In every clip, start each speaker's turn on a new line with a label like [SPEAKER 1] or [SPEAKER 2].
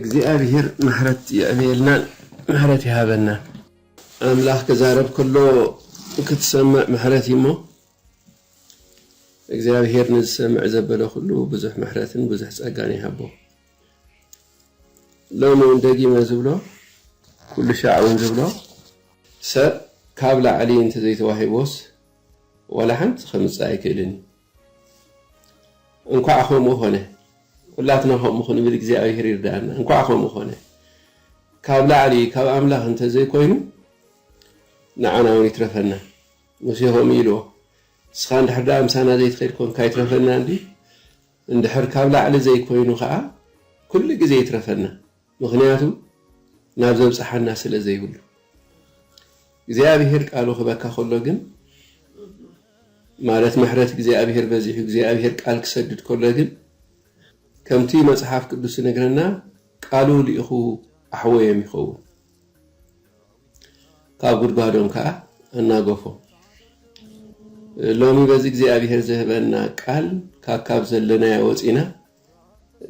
[SPEAKER 1] እግዚኣብሔር ምሕረት የዕብየልና ምሕረት ይሃበና። ኣምላኽ ክዛረብ ከሎ ክትሰምዕ ምሕረት እዩ እሞ እግዚኣብሄር ንዝሰምዕ ዘበለ ኩሉ ብዙሕ ምሕረትን ብዙሕ ጸጋን ይሃቦ። ሎሚ እውን ደጊመ ዝብሎ ኩሉ ሻዕ እውን ዝብሎ ሰብ ካብ ላዕሊ እንተዘይተዋሂቦስ ዋላ ሓንቲ ከምጽእ ኣይክእልን እዩ። እንኳዕ ከምኡ ኮነ ኩላትና ከምኡ ክንብል እግዚኣብሔር ይርዳኣና እንኳዕ ከምኡ ኮነ ካብ ላዕሊ ካብ ኣምላኽ እንተዘይኮይኑ ንዓና እውን ይትረፈና ሙሴ ከምኡ ኢልዎ ንስኻ እንድሕር ደኣ ምሳና ዘይትኸይድ ኮንካ ይትረፈና እንዲ እንድሕር ካብ ላዕሊ ዘይኮይኑ ከዓ ኩሉ ግዜ ይትረፈና ምኽንያቱ ናብ ዘብጽሓና ስለ ዘይብሉ። እግዚኣብሄር ቃሉ ክህበካ ከሎ ግን ማለት ምሕረት እግዚኣብሄር በዚሑ እግዚኣብሄር ቃል ክሰድድ ከሎ ግን ከምቲ መጽሓፍ ቅዱስ ዝነግረና ቃሉ ልኢኹ ኣሕወዮም ይኸውን ካብ ጉድጓዶም ከኣ ኣናገፎም። ሎሚ በዚ እግዚኣብሄር ዝህበና ቃል ካካብ ዘለናዮ ወጺና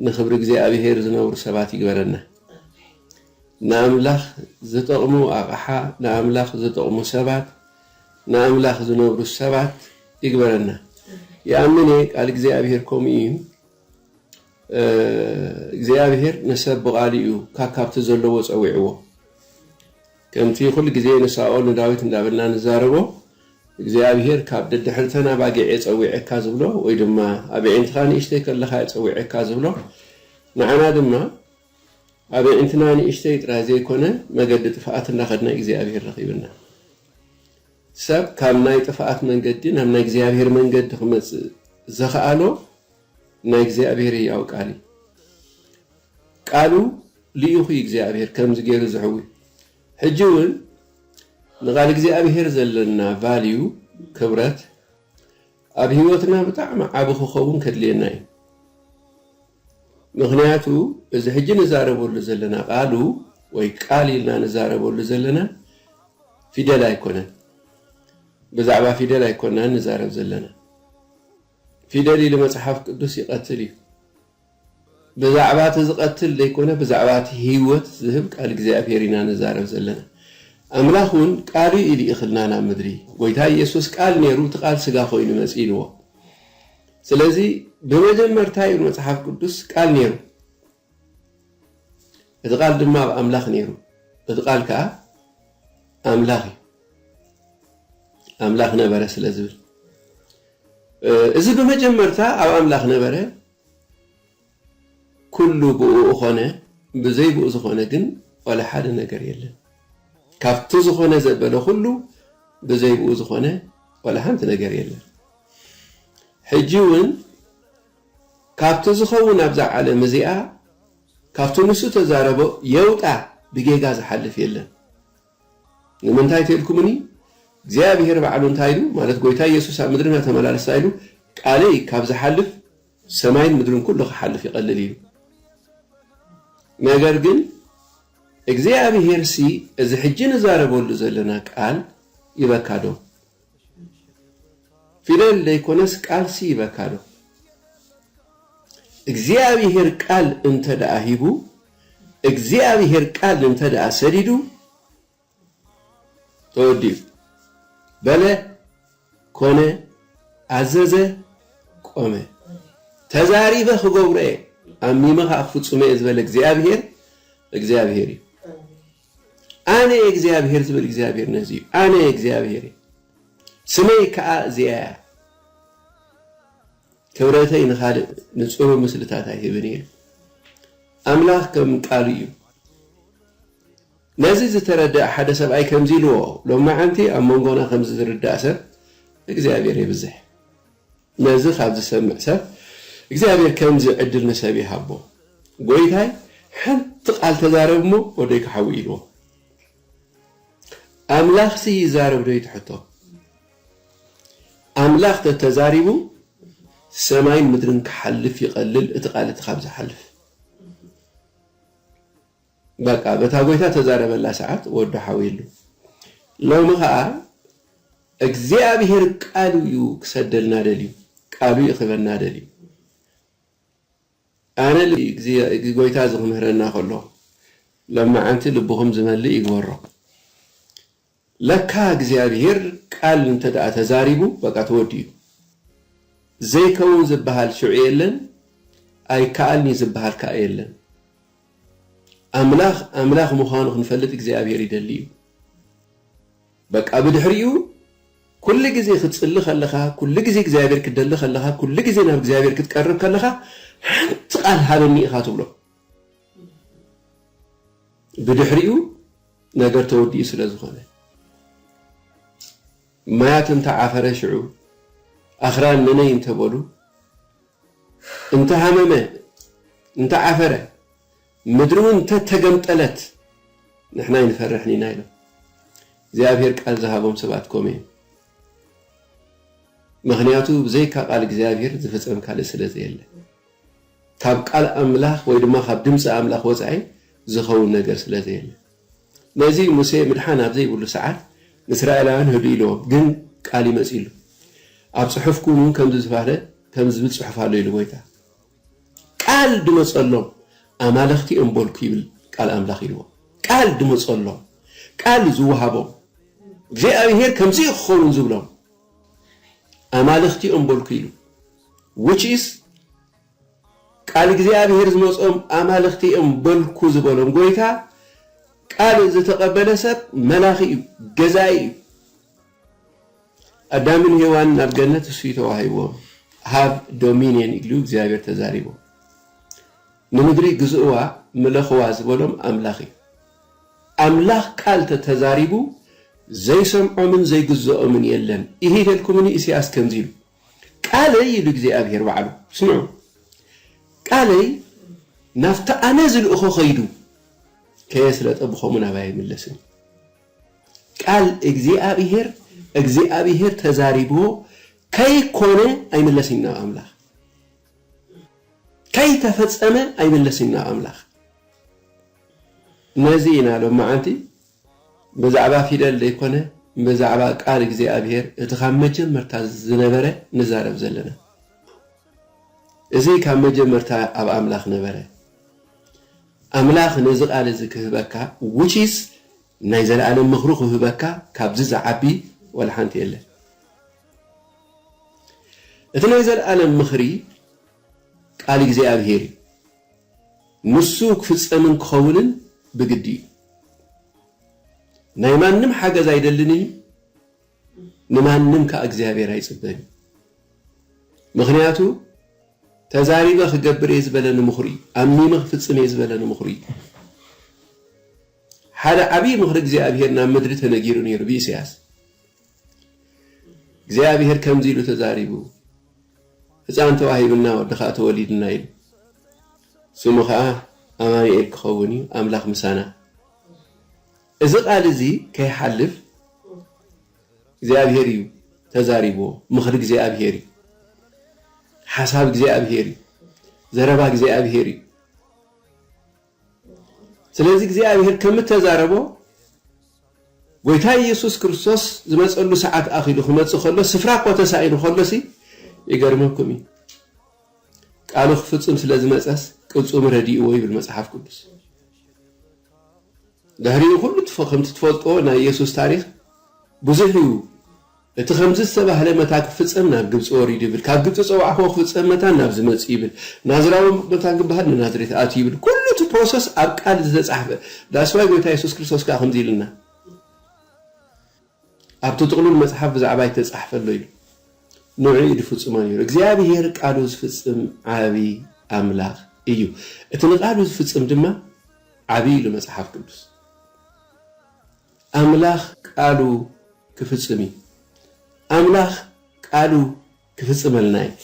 [SPEAKER 1] ንክብሪ እግዚኣብሄር ዝነብሩ ሰባት ይግበረና። ንኣምላኽ ዝጠቕሙ ኣቕሓ፣ ንኣምላኽ ዝጠቕሙ ሰባት፣ ንኣምላኽ ዝነብሩ ሰባት ይግበረና። ይኣምን እየ ቃል እግዚኣብሄር ከምኡ እዩ። እግዚኣብሄር ንሰብ ብቓሉ እዩ ካካብቲ ዘለዎ ጸዊዕዎ። ከምቲ ዅሉ ግዜ ንሳኦል ንዳዊት እንዳበልና ንዛረቦ፣ እግዚኣብሄር ካብ ደድሕሪተን ኣባጊዕ'የ ጸዊዔካ ዝብሎ፣ ወይ ድማ ኣብ ኣዒንትኻ ንእሽተይ ከለኻ'የ ጸዊዔካ ዝብሎ፣ ንዓና ድማ ኣብ ኣዒንትና ንእሽተይ ጥራይ ዘይኰነ መገዲ ጥፍኣት እንዳኸድና እግዚኣብሄር ረኺብና። ሰብ ካብ ናይ ጥፍኣት መንገዲ ናብ ናይ እግዚኣብሄር መንገዲ ክመጽእ ዘኽኣሎ፣ ናይ እግዚኣብሔር ህያው ቃል እዩ ቃሉ ልኢኹ እዩ እግዚኣብሔር ከምዚ ገይሩ ዝሕዊ ሕጂ እውን ንቃል እግዚኣብሔር ዘለና ቫልዩ ክብረት ኣብ ህይወትና ብጣዕሚ ዓቢ ክኸውን ከድልየና እዩ ምክንያቱ እዚ ሕጂ ንዛረበሉ ዘለና ቃሉ ወይ ቃል ኢልና ንዛረበሉ ዘለና ፊደል ኣይኮነን ብዛዕባ ፊደል ኣይኮናን ንዛረብ ዘለና ፊደል ኢሊ መጽሓፍ ቅዱስ ይቀትል እዩ ብዛዕባ እቲ ዝቀትል ዘይኮነ ብዛዕባ እቲ ህይወት ዝህብ ቃል እግዚኣብሔር ኢና ንዛረብ ዘለና ኣምላኽ እውን ቃሉ እዩ ልኢኽልና ናብ ምድሪ ጎይታ ኢየሱስ ቃል ነይሩ እቲ ቃል ስጋ ኮይኑ መጽ ኢልዎ ስለዚ ብመጀመርታ እዩ መጽሓፍ ቅዱስ ቃል ነይሩ እቲ ቓል ድማ ኣብ ኣምላኽ ነይሩ፣ እቲ ቓል ከኣ ኣምላኽ እዩ፣ ኣምላኽ ነበረ ስለ ዝብል እዚ ብመጀመርታ ኣብ ኣምላኽ ነበረ፣ ኩሉ ብእኡ ኾነ፣ ብዘይ ብኡ ዝኾነ ግን ዋላ ሓደ ነገር የለን። ካብቲ ዝኾነ ዘበለ ኩሉ ብዘይ ብኡ ዝኾነ ዋላ ሓንቲ ነገር የለን። ሕጂ እውን ካብቲ ዝኸውን ኣብዛ ዓለም እዚኣ ካብቲ ንሱ ተዛረቦ የውጣ ብጌጋ ዝሓልፍ የለን ንምንታይ ተልኩምኒ እግዚኣብሄር ባዕሉ እንታይ ኢሉ ማለት ጎይታ ኢየሱስ ኣብ ምድሪ ናተመላለስ ታይ ኢሉ ቃለይ ካብ ዝሓልፍ ሰማይን ምድርን ኩሉ ክሓልፍ ይቀልል ኢሉ ነገር ግን እግዚኣብሄርሲ እዚ ሕጂ ንዛረበሉ ዘለና ቃል ይበካ ዶ ፊደል ደይኮነስ ቃልሲ ይበካ ዶ እግዚኣብሄር ቃል እንተ ደኣ ሂቡ እግዚኣብሄር ቃል እንተ ደኣ ሰዲዱ ተወዲኡ በለ ኮነ ኣዘዘ ቆመ ተዛሪበ ክገብሮ እየ ኣሚመኻ ክፍፅሞ እየ ዝበለ እግዚኣብሄር እግዚኣብሄር እዩ። ኣነ እግዚኣብሄር ዝብል እግዚኣብሄር ነዚ እዩ ኣነ እግዚኣብሄር እየ ስመይ ክኣ እዚኣ እያ ክብረተይ ንኻልእ ንጽሩ ምስልታት ኣይህብን እየ ኣምላኽ ከም ቃሉ እዩ ነዚ ዝተረድኣ ሓደ ሰብኣይ ከምዚ ኢልዎ ሎማዓንቲ ኣብ መንጎና ከምዚ ዝርዳእ ሰብ እግዚኣብሄር የብዝሕ ነዚ ካብ ዝሰምዕ ሰብ እግዚኣብሔር ከምዚ ዕድል ንሰብ ይሃቦ ጎይታይ ሓንቲ ቃል ተዛረብ እሞ ወደይካ ሓዊ ኢልዎ ኣምላኽሲ ይዛረብ ዶ ይትሐቶ ኣምላኽ ተተዛሪቡ ሰማይን ምድርን ክሓልፍ ይቐልል እቲ ቃል እቲ ካብ ዝሓልፍ በቃ በታ ጎይታ ተዛረበላ ሰዓት ወዱ ሓዊሉ ሎሚ ከኣ እግዚኣብሄር ቃሉ እዩ ክሰደልና ደልዩ ቃሉ እዩ ክህበና ደልዩ ኣነ ጎይታ እዚ ክምህረና ከሎ ለማዓንቲ ልብኹም ዝመልእ ይግበሮ። ለካ እግዚኣብሄር ቃል እንተ ተዛሪቡ በቃ ተወዲኡ ዘይከውን ዝብሃል ሽዑ የለን ኣይከኣልን እዩ ዝብሃል ከኣ የለን ኣምላኽ ኣምላኽ ምዃኑ ክንፈልጥ እግዚኣብሄር ይደሊ እዩ በቃ ብድሕሪኡ ኩሉ ግዜ ክትጽሊ ከለኻ ኩሉ ግዜ እግዚኣብሄር ክትደሊ ከለኻ ኩሉ ግዜ ናብ እግዚኣብሄር ክትቀርብ ከለኻ ሓንቲ ቃል ሃበኒ ኢኻ ትብሎ ብድሕሪኡ ነገር ተወዲኡ ስለ ዝኾነ ማያት እንተ ዓፈረ ሽዑ ኣኽራን ነነይ እንተ በሉ እንተ ሃመመ እንተ ዓፈረ ምድሪ እውን እንተ ተገምጠለት ንሕና ኣይንፈርሕን ኢና ኢሎም እግዚኣብሔር ቃል ዝሃቦም ሰባት ኮም እዮም ምክንያቱ ብዘይካ ቃል እግዚኣብሔር ዝፍፀም ካልእ ስለ ዘየለ ካብ ቃል ኣምላኽ ወይ ድማ ካብ ድምጺ ኣምላኽ ወጻኢ ዝኸውን ነገር ስለ ዘየለ። ነዚ እዩ ሙሴ ምድሓን ኣብ ዘይብሉ ሰዓት ንእስራኤላውያን ህድኡ ኢልዎም ግን ቃል ይመጽሉ ኣብ ጽሑፍኩም እውን ከምዚ ዝባህለ ከምዚ ዝብል ጽሑፍ ኣሎ ኢሉ ጎይታ ቃል ድመጸሎም ኣማልኽቲ እዮም በልኩ ይብል ቃል ኣምላኽ ኢልዎም ቃል ድመጸሎም ቃል ዝወሃቦም እግዚኣብሄር ከምዚ እዩ ክኸውን ዝብሎም። ኣማልኽቲ እዮም በልኩ ኢሉ which is ቃል እግዚኣብሔር ዝመጾም ኣማልኽቲ እዮም በልኩ ዝበሎም ጎይታ ቃል ዝተቀበለ ሰብ መላኺ እዩ ገዛኢ እዩ ኣዳምን ሄዋንን ኣብ ገነት እሱ ተዋሂዎም ሃቭ ዶሚንየን ኢሉ እግዚኣብሔር ተዛሪቦም ንምድሪ ግዝእዋ ምለኽዋ ዝበሎም ኣምላኽ እዩ። ኣምላኽ ቃል ተተዛሪቡ ዘይሰምዖምን ዘይግዘኦምን የለን ኢሂ በልኩምኒ ኢሰያስ ከምዚ ኢሉ ቃለይ ኢሉ እግዚኣብሄር ባዕሉ ስምዑ ቃለይ ናብቲ ኣነ ዝልእኾ ከይዱ ከየስለጠ ብኸምኡ ናባይ ኣይምለስን እዩ ቃል እግዚኣብሄር እግዚኣብሄር ተዛሪብዎ ከይኮነ ኣይምለስን እዩ ናብ ኣምላኽ ከይተፈጸመ ኣይምለስን ናብ ኣምላኽ። ነዚ ኢና ሎማዓንቲ ብዛዕባ ፊደል ዘይኮነ ብዛዕባ ቃል እግዚኣብሔር እቲ ካብ መጀመርታ ዝነበረ ንዛረብ ዘለና። እዚ ካብ መጀመርታ ኣብ ኣምላኽ ነበረ። ኣምላኽ ነዚ ቃል እዚ ክህበካ which is ናይ ዘለኣለም ምኽሩ ክህበካ ካብዚ ዝዓቢ ወላሓንቲ የለን። እቲ ናይ ዘልኣለም ምኽሪ ቃል እግዚኣብሄር እዩ። ንሱ ክፍጸምን ክኸውንን ብግዲ እዩ። ናይ ማንም ሓገዝ ኣይደልን እዩ፣ ንማንም ከኣ እግዚኣብሄር ኣይጽበን እዩ። ምኽንያቱ ተዛሪበ ክገብር እየ ዝበለ ንምኽሩ እዩ። ኣሚመ ክፍጽም እየ ዝበለ ንምኽሩ እዩ። ሓደ ዓብዪ ምኽሪ እግዚኣብሄር ናብ ምድሪ ተነጊሩ ነይሩ ብኢሳያስ። እግዚኣብሄር ከምዚ ኢሉ ተዛሪቡ፣ ህፃን ተዋሂቡና ወዲ ኸዓ ተወሊዱና ኢሉ፣ ስሙ ኸዓ ኣማኑኤል ክኸውን እዩ፣ ኣምላኽ ምሳና። እዚ ቃል እዚ ከይሓልፍ እግዚኣብሄር እዩ ተዛሪብዎ፣ ምኽሪ እግዚኣብሄር እዩ፣ ሓሳብ እግዚኣብሄር እዩ፣ ዘረባ እግዚኣብሄር እዩ። ስለዚ እግዚኣብሄር ከም እተዛረቦ፣ ጐይታ ኢየሱስ ክርስቶስ ዝመጸሉ ሰዓት ኣኺሉ ክመጽእ ከሎ ስፍራ እኳ ተሳኢኑ ከሎሲ ይገርመኩም እዩ። ቃሉ ክፍጽም ስለ ዝመጸስ ቅልጹም ረዲእዎ ይብል መጽሓፍ ቅዱስ። ድሕሪኡ ኩሉ ከምቲ ትፈልጥዎ ናይ ኢየሱስ ታሪኽ ብዙሕ እዩ። እቲ ከምዚ ዝተባህለ መታን ክፍጸም ናብ ግብጺ ወሪዱ ይብል፣ ካብ ግብጺ ጸዋዕክዎ ክፍጸም መታን ናብዚ መጺኡ ይብል፣ ናዝራዊ መታን ክበሃል ንናዝሬት ኣትዩ ይብል፣ ኩሉ እቲ ፕሮሰስ ኣብ ቃል ዝተጻሕፈ፣ that's why ጎይታ የሱስ ክርስቶስ ከኣ ከምዚ ኢሉና ኣብቲ ጥቕሉል መጽሓፍ ብዛዕባይ እተጻሕፈ ኣሎ ኢሉ ንዕኡ ኢዩ ድፍጽሞ ነይሩ። እግዚኣብሄር ቃሉ ዝፍጽም ዓቢ ኣምላኽ እዩ። እቲ ንቃሉ ዝፍጽም ድማ ዓቢ ኢሉ መጽሓፍ ቅዱስ። ኣምላኽ ቃሉ ክፍጽም እዩ። ኣምላኽ ቃሉ ክፍጽመልና እዩ።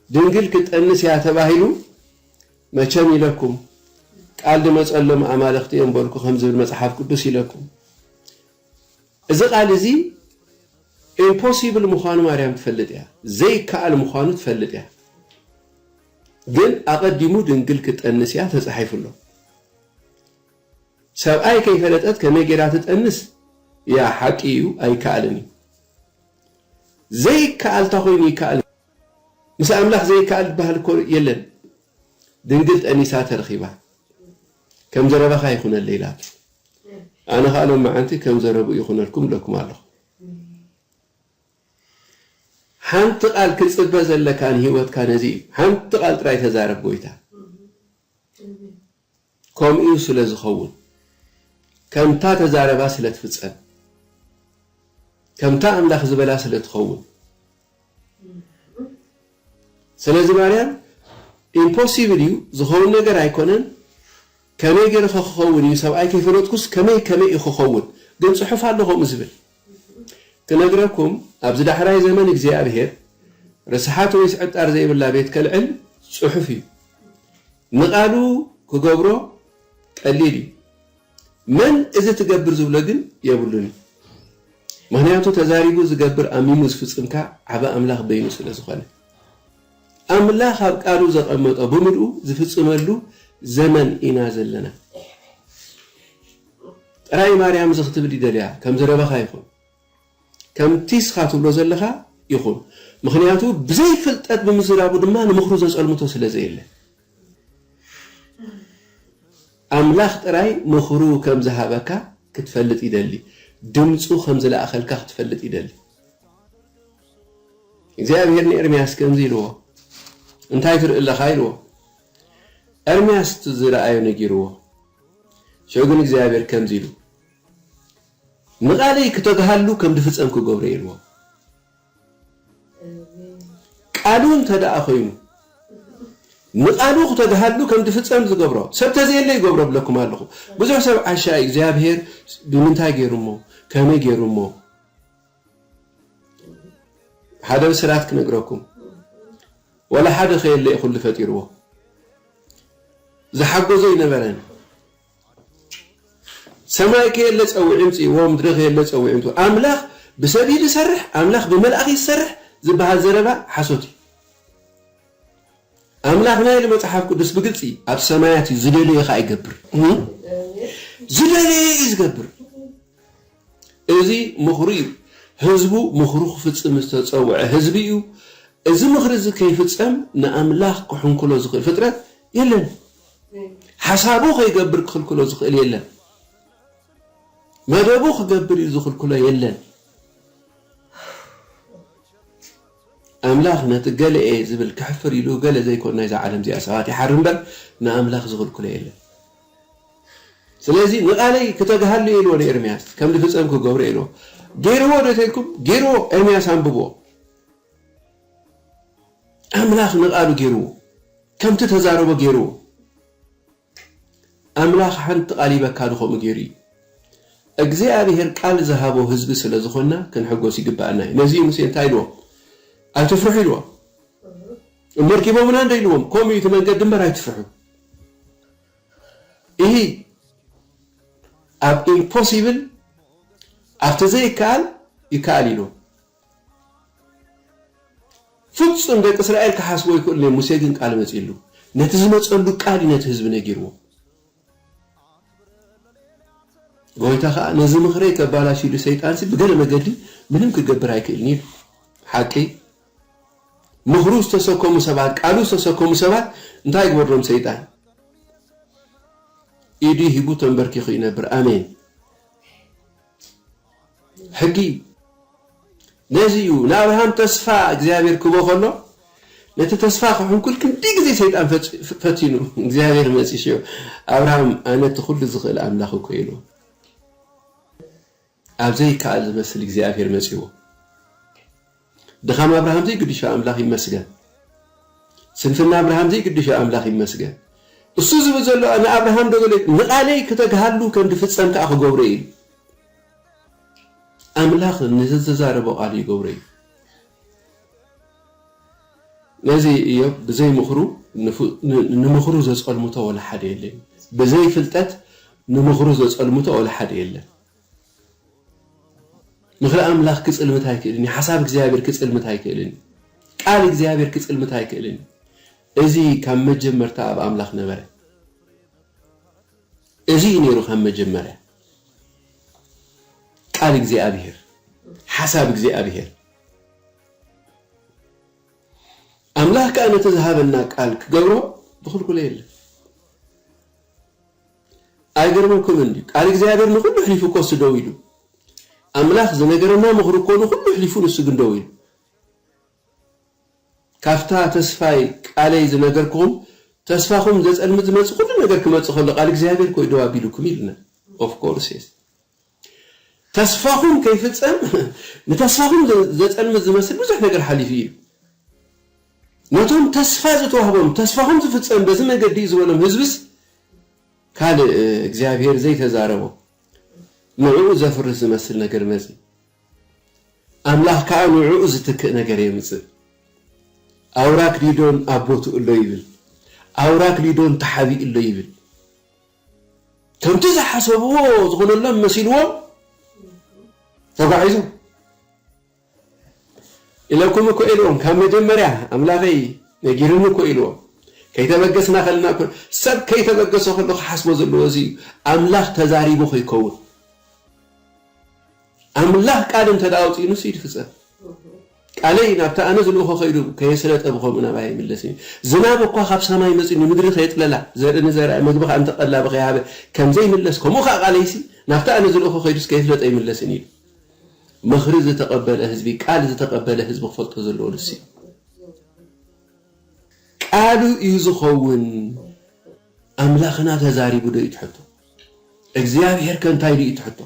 [SPEAKER 1] ድንግል ክትጠንስ እያ ተባሂሉ መቸም ኢለኩም ቃል ድመጸሎም ኣማልኽቲ እዮም በልኩ ከም ዝብል መጽሓፍ ቅዱስ ኢለኩም እዚ ቃል እዚ ኢምፖሲብል ምዃኑ ማርያም ትፈልጥ እያ ዘይከኣል ምዃኑ ትፈልጥ እያ ግን ኣቐዲሙ ድንግል ክትጠንስ እያ ተጻሒፉ ኣሎ ሰብኣይ ከይፈለጠት ከመይ ጌራ ትጠንስ እያ ሓቂ እዩ ኣይከኣልን እዩ ዘይከኣል እታ ኮይኑ ይከኣል ምስ ኣምላኽ ዘይከኣል ዝበሃል እኮ የለን ድንግል ጠኒሳ ተረኺባ ከም ዘረባኻ ይኹነለይ ኢላቶ ኣነ ከኣ ሎመዓንቲ ከም ዘረብኡ ይኹነልኩም እለኩም ኣለኹ ሓንቲ ቃል ክጽበ ዘለካ ንህይወትካ ነዚ እዩ ሓንቲ ቃል ጥራይ ተዛረብ ጎይታ ከምኡ ስለ ዝኸውን ከምታ ተዛረባ ስለ ትፍጸም ከምታ ኣምላኽ ዝበላ ስለ ትኸውን ስለዚ ማርያም ኢምፖሲብል እዩ ዝኸውን ነገር ኣይኮነን ከመይ ገይረ ከ ክኸውን እዩ ሰብኣይ ከይፈለጥኩስ ከመይ ከመይ እዩ ክኸውን ግን ጽሑፍ ኣሎ ከምኡ ዝብል ክነግረኩም ኣብዚ ዳሕራይ ዘመን እግዚኣብሄር ርስሓት ወይስ ዕጣር ዘይብላ ቤት ከልዕል ጽሑፍ እዩ ንቓሉ ክገብሮ ቀሊል እዩ መን እዚ ትገብር ዝብሎ ግን የብሉን እዩ ምኽንያቱ ተዛሪቡ ዝገብር ኣሚኑ ዝፍጽም ከኣ ዓቢ ኣምላኽ በይኑ ስለ ዝኾነ ኣምላኽ ኣብ ቃሉ ዘቐመጦ ብምልኡ ዝፍጽመሉ ዘመን ኢና ዘለና ጥራይ ማርያም እዚ ክትብል ይደልያ ከም ዘረባኻ ይኹን ከምቲ እስኻ ትብሎ ዘለኻ ይኹን ምኽንያቱ ብዘይ ፍልጠት ብምዝራቡ ድማ ንምኽሩ ዘጸልምቶ ስለ ዘየለ ኣምላኽ ጥራይ ምኽሩ ከም ዝሃበካ ክትፈልጥ ይደሊ ድምጹ ከም ዝለኣኸልካ ክትፈልጥ ይደሊ እግዚኣብሄር ንኤርምያስ ከምዚ ኢልዎ እንታይ ትርኢ ኣለኻ ኢልዎ ኤርምያስ ዝረኣዮ ነጊርዎ ሽዑ ግን እግዚኣብሄር ከምዚ ኢሉ ንቓለይ ክተግሃሉ ከም ድፍጸም ክገብሮ እየ ኢልዎም። ቃሉ እንተ ደኣ ኾይኑ፣ ንቓሉ ክተግሃሉ ከም ድፍጸም ዝገብሮ፣ ሰብ ተዘየለ ይገብሮ እብለኩም ኣለኹ። ብዙሕ ሰብ ዓሻ እዩ፣ እግዚኣብሄር ብምንታይ ገይሩ እሞ፣ ከመይ ገይሩ እሞ። ሓደ ብስራት ክነግረኩም፣ ዋላ ሓደ ከየለ እዩ ኩሉ ፈጢርዎ። ዝሓጎዞ ኣይነበረን። ሰማይ ከየለ ጸዊዑ ኣምጺእዎ፣ ምድሪ ከየለ ጸዊዑ ኣምጺእዎ። ኣምላኽ ብሰብ እዩ ዝሰርሕ፣ ኣምላኽ ብመልኣኽ እዩ ዝሰርሕ ዝበሃል ዘረባ ሓሶት እዩ። ኣምላኽና ኢሉ መጽሓፍ ቅዱስ ብግልጺ ኣብ ሰማያት እዩ፣ ዝደለዮ ከኣ ይገብር። ዝደለዮ እዩ ዝገብር። እዚ ምኽሩ እዩ። ህዝቡ ምኽሩ ክፍጽም ዝተጸውዐ ህዝቢ እዩ። እዚ ምኽሪ እዚ ከይፍጸም ንኣምላኽ ክሕንክሎ ዝኽእል ፍጥረት የለን። ሓሳቡ ከይገብር ክኽልክሎ ዝኽእል የለን። መደቡ ክገብር እዩ ዝኽልክሎ የለን። ኣምላኽ ነቲ ገለ'የ ዝብል ከሕፍር ኢሉ ገለ ዘይኮን ናይዛ ዓለም እዚኣ ሰባት ይሓሪ እምበር ንኣምላኽ ዝኽልክሎ የለን። ስለዚ ንቓለይ ክተግሃሉ እየ ኢልዎ ንኤርምያስ ከም ዝፍጸም ክገብሮ እየ ኢልዎ። ገይርዎ ዶ ተልኩም? ገይርዎ። ኤርምያስ ኣንብብዎ። ኣምላኽ ንቓሉ ገይርዎ ከምቲ ተዛረቦ ገይርዎ ኣምላኽ ሓንቲ ቃል ይበካሉ ከምኡ ገይሩ እዩ እግዚኣብሔር ቃል ዝሃቦ ህዝቢ ስለ ዝኾንና ክንሕጎስ ይግብኣና እዩ ነዚ ሙሴ እንታይ ኢልዎ ኣይትፍርሑ ኢልዎ እመርኪቦምና እንደ ኢልዎም ከምኡ እዩ እቲ መንገዲ እምበር ኣይትፍርሑ ይህ ኣብ ኢምፖሲብል ኣብቲ ዘይከኣል ይከኣል ኢልዎ ፍጹም ደቂ እስራኤል ክሓስቦ ኣይክእሉን እዮም፣ ሙሴ ግን ቃል መጺእሉ፣ ነቲ ዝመጸሉ ቃል እዩ ነቲ ህዝቢ ነጊርዎ። ጎይታ ከኣ ነዚ ምኽረይ ከባላሽ ኢሉ ሰይጣንሲ ብገለ መገዲ ምንም ክገብር ኣይክእልን እዩ ኢሉ። ሓቂ ምኽሩ ዝተሰከሙ ሰባት ቃሉ ዝተሰከሙ ሰባት እንታይ ግበርሎም ሰይጣን ኢዱ ሂቡ ተንበርኪኹ ይነብር። ኣሜን። ሕጊ እዩ ነዚ እዩ ንኣብርሃም ተስፋ እግዚኣብሔር ክቦ ከሎ ነቲ ተስፋ ክሕንኩል ክንዲ ግዜ ሰይጣን ፈቲኑ እግዚኣብሔር መፂሾ ኣብርሃም ኣነ እቲ ኩሉ ዝኽእል ኣምላኽ እኮ ኢሉ ኣብ ዘይከኣል ዝመስል እግዚኣብሔር መፂዎ ድኻም ኣብርሃም ዘይግድሾ ኣምላኽ ይመስገን ስንፍና ኣብርሃም ዘይግድሾ ኣምላኽ ይመስገን እሱ ዝብል ዘሎ ንኣብርሃም ዶ ገሌ ንቓለይ ክተግሃሉ ከም ድፍጸም ከኣ ክገብሮ ኢዩ ኢሉ ኣምላኽ ንዘተዛረቦ ቃል ይገብሮ ኢዩ ነዚ እዮብ ብዘይ ምኽሩ ንምኽሩ ዘጸልምቶ ወላ ሓደ የለን ብዘይ ፍልጠት ንምኽሩ ዘጸልምቶ ወላ ሓደ የለን ምኽሪ ኣምላኽ ኪጽልምት ኣይክእልን እዩ። ሓሳብ እግዚኣብሔር ኪጽልምት ኣይክእልን እዩ። ቃል እግዚኣብሔር ኪጽልምት ኣይክእልን እዩ። እዚ ካብ መጀመርታ ኣብ ኣምላኽ ነበረ። እዚ እዩ ነይሩ ካብ መጀመርያ። ቃል እግዚኣብሔር፣ ሓሳብ እግዚኣብሔር። ኣምላኽ ከኣ ነቲ ዝሃበና ቃል ኪገብሮ ዝኽልክሎ የለን። ኣይገርመኩምን ድዩ ቃል እግዚኣብሔር ንኩሉ ኣሕሊፉ እኮ እሱ ደው ኢሉ ኣምላክ ዝነገረና ምክሩ እኮ ንኩሉ ኣሕሊፉ ንሱ ግን ደው ኢሉ ካብታ ተስፋይ ቃለይ ዝነገርኩኩም ተስፋኩም ዘጸልምት ዝመጽእ ኩሉ ነገር ክመጽእ ከሎ ቃል እግዚኣብሔር እኮ እዩ ደው ኣቢሉኩም ኢሉና ኦፍ ኮርስ የስ ተስፋኹም ከይፍጸም ንተስፋኹም ዘጸልምት ዝመስል ብዙሕ ነገር ሓሊፉ እዩ። ነቶም ተስፋ ዝተዋህቦም ተስፋኹም ዝፍጸም በዚ መንገዲ እዩ ዝበሎም ህዝብስ ካልእ እግዚኣብሔር ዘይተዛረቦ ንዕኡ ዘፍርስ ዝመስል ነገር መጺ ኣምላኽ ከኣ ንዕኡ ዝትክእ ነገር የምጽእ። ኣውራክ ሊዶን ኣብ ቦትኡ ኣሎ ይብል። ኣውራክ ሊዶን ተሓቢኡ ኣሎ ይብል። ከምቲ ዝሓሰብዎ ዝኾነሎም መሲልዎም ተጓዒዞም ኢለኩም እኮ ኢልዎም ካብ መጀመርያ ኣምላኸይ ነጊርኒ እኮ ኢልዎም ከይተበገስና ከለና እኮ ሰብ ከይተበገሰ ከሎ ክሓስቦ ዘለዎ እዚ እዩ ኣምላኽ ተዛሪቡ ከይከውን ኣምላኽ ቃል እንተ ኣውፅኡንስ ይድፍፀም ቃለይ ናብቲ ኣነ ዝልእኾ ከይዱ ከየስለጠ ብኸምኡ ናባይ ኣይምለስን እዩ። ዝናብ እኳ ካብ ሰማይ መጺኡ ንምድሪ ከየጥለላ፣ ዘርኢ ንዘራኢ፣ ምግቢ ኸኣ ነቲ ቀላቢ ከይሃበ ከም ዘይምለስ፣ ከምኡ ኸኣ ቃለይሲ ናብቲ ኣነ ዝልእኾ ከይዱስ ከየስለጠ ኣይምለስን እዩ ኢሉ። ምኽሪ ዝተቐበለ ህዝቢ፣ ቃል ዝተቐበለ ህዝቢ ክፈልጦ ዘለዎ ንሱ እዩ። ቃሉ እዩ ዝኸውን። ኣምላኽና ተዛሪቡዶ እዩ እቲ ሕቶ። እግዚኣብሄርከ እንታይ ኢሉ እዩ እቲ ሕቶ።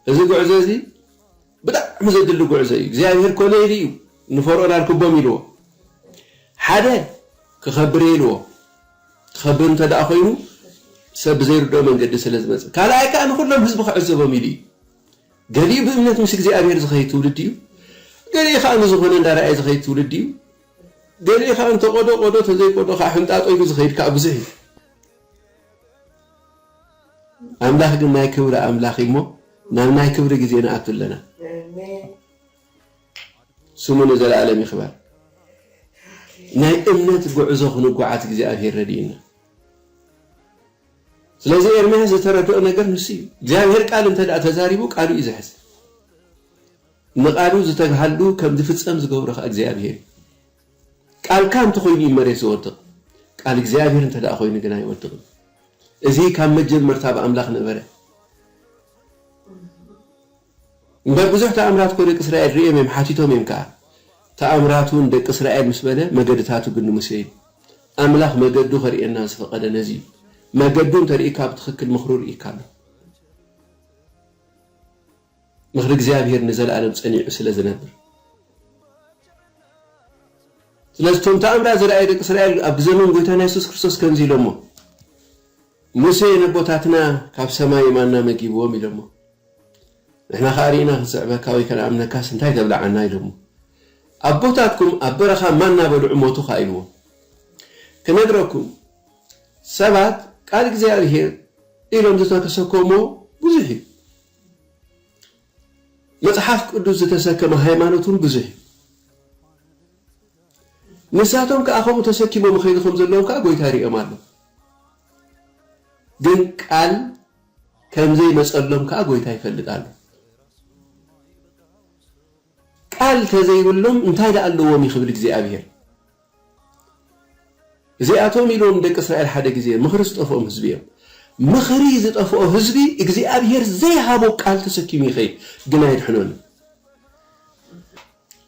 [SPEAKER 1] እዚ ጉዕዞ እዚ ብጣዕሚ ዘድሊ ጉዕዞ እዩ። እግዚኣብሄር ኮነ ኢሉ እዩ ንፈርኦን ኣርክቦም ኢልዎ። ሓደ ክኸብር እየ ኢልዎ። ክኸብር እንተደኣ ኮይኑ ሰብ ብዘይርድኦ መንገዲ ስለ ዝመጽእ፣ ካልኣይ ከኣ ንኹሎም ህዝቢ ክዕዘቦም ኢሉ እዩ። ገሊኡ ብእምነት ምስ እግዚኣብሄር ዝኸይድ ትውልዲ እዩ። ገሊኡ ከኣ ንዝኾነ እንዳረኣየ ዝኸይድ ትውልዲ እዩ። ገሊኡ ከኣ እንተቆዶ ቆዶ ተዘይቆዶ ከኣ ሕንጣጦ ኢሉ ዝኸይድ ከኣ ብዙሕ እዩ። ኣምላኽ ግን ናይ ክብሪ ኣምላኽ እዩ እሞ ናብ ናይ ክብሪ ግዜ ንኣቱ ኣለና። ስሙ ንዘለኣለም ይኽበር። ናይ እምነት ጉዕዞ ክንጓዓዝ እግዚኣብሄር ረዲኡና። ስለዚ ኤርምያስ ዝተረድኦ ነገር ንሱ እዩ። እግዚኣብሄር ቃል እንተ ተዛሪቡ ቃሉ እዩ ዝሕዝ። ንቃሉ ዝተግሃሉ ከም ዝፍጸም ዝገብሮ ከኣ እግዚኣብሄር እዩ። ቃልካ እንተ ዀይኑ እዩ መሬት ዚወድቕ፣ ቃል እግዚኣብሄር እንተ ደኣ ዀይኑ ግን ኣይወድቕን። እዚ ኻብ መጀመርታ ብ ኣምላኽ ነበረ። እምበር ብዙሕ ተኣምራት እኮ ደቂ እስራኤል ርእዮም እዮም ሓቲቶም እዮም ከኣ ተኣምራቱ ን ደቂ እስራኤል ምስ በለ መገድታቱ ግን ንሙሴ እዩ ኣምላኽ መገዱ ከርእየና ዝፈቀደ ነዚ እዩ መገዱ እንተርኢካ ብትኽክል ምኽሩ ርኢካ ኣሎ ምኽሪ እግዚኣብሄር ንዘለኣለም ጸኒዑ ስለ ዝነብር። ስለዚ እቶም ተኣምራት ዝረኣዩ ደቂ እስራኤል ኣብ ግዘ መን ጎይታና የሱስ ክርስቶስ ከምዚ ኢሎሞ ሙሴ ነቦታትና ካብ ሰማይ ማና መጊብዎም ኢሎሞ ንሕና ከኣ ርኢና ክንስዕበካ ወይ ከነኣምነካስ እንታይ ተብልዓና ኢሎሞ ኣቦታትኩም ኣብ በረኻ ማና በልዑ ሞቱ ከኣ ኢልዎ ክነግረኩም ሰባት ቃል እግዚኣብሄር ኢሎም ዝተከሰከሞ ብዙሕ እዩ መጽሓፍ ቅዱስ ዝተሰከመ ሃይማኖት እውን ብዙሕ እዩ። ንሳቶም ከኣ ከምኡ ተሰኪሞም ይኸይዱ ከም ዘለዉ ከኣ ጐይታ ይርእዮም ኣሎ። ግን ቃል ከም ዘይመጸሎም ከኣ ጐይታ ይፈልጥ ኣሎ። ቃል ተዘይብሎም እንታይ ደኣ ኣለዎም ይኽብል እግዚኣብሄር። እዚኣቶም ኢሎም ንደቂ እስራኤል ሓደ ግዜ ምኽሪ ዝጠፍኦም ህዝቢ እዮም። ምኽሪ ዝጠፍኦ ህዝቢ እግዚኣብሄር ዘይሃቦ ቃል ተሰኪሙ ይኸይድ ግን ኣየድሕኖን እዩ።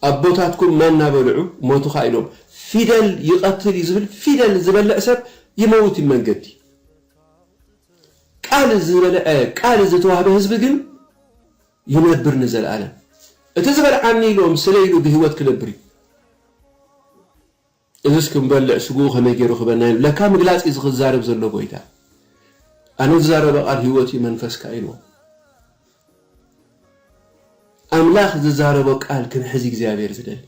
[SPEAKER 1] ኣቦታትኩም ማና በልዑ ሞቱ ኸኣ ኢሎም ፊደል ይቐትል እዩ ዝብል ፊደል ዝበልዕ ሰብ ይመውት እዩ መንገዲ ቃል ዝበልዐ ቃል ዝተዋህበ ህዝቢ ግን ይነብር ንዘልኣለም እቲ ዝበልዓኒ ኢሎም ስለ ኢሉ ብሂወት ክነብር እዩ እዝስ ክንበልዕ ስግኡ ከመይ ጌሩ ክህበና ኢሉ ለካ ምግላጽ እዩ ዝክዛረብ ዘሎ ጎይታ ኣነ ዝዛረበ ቃል ሂወት እዩ መንፈስካ ኢልዎ ኣምላኽ ዝዛረቦ ቃል ክንሕዝ እግዚኣብሔር ዝደሊ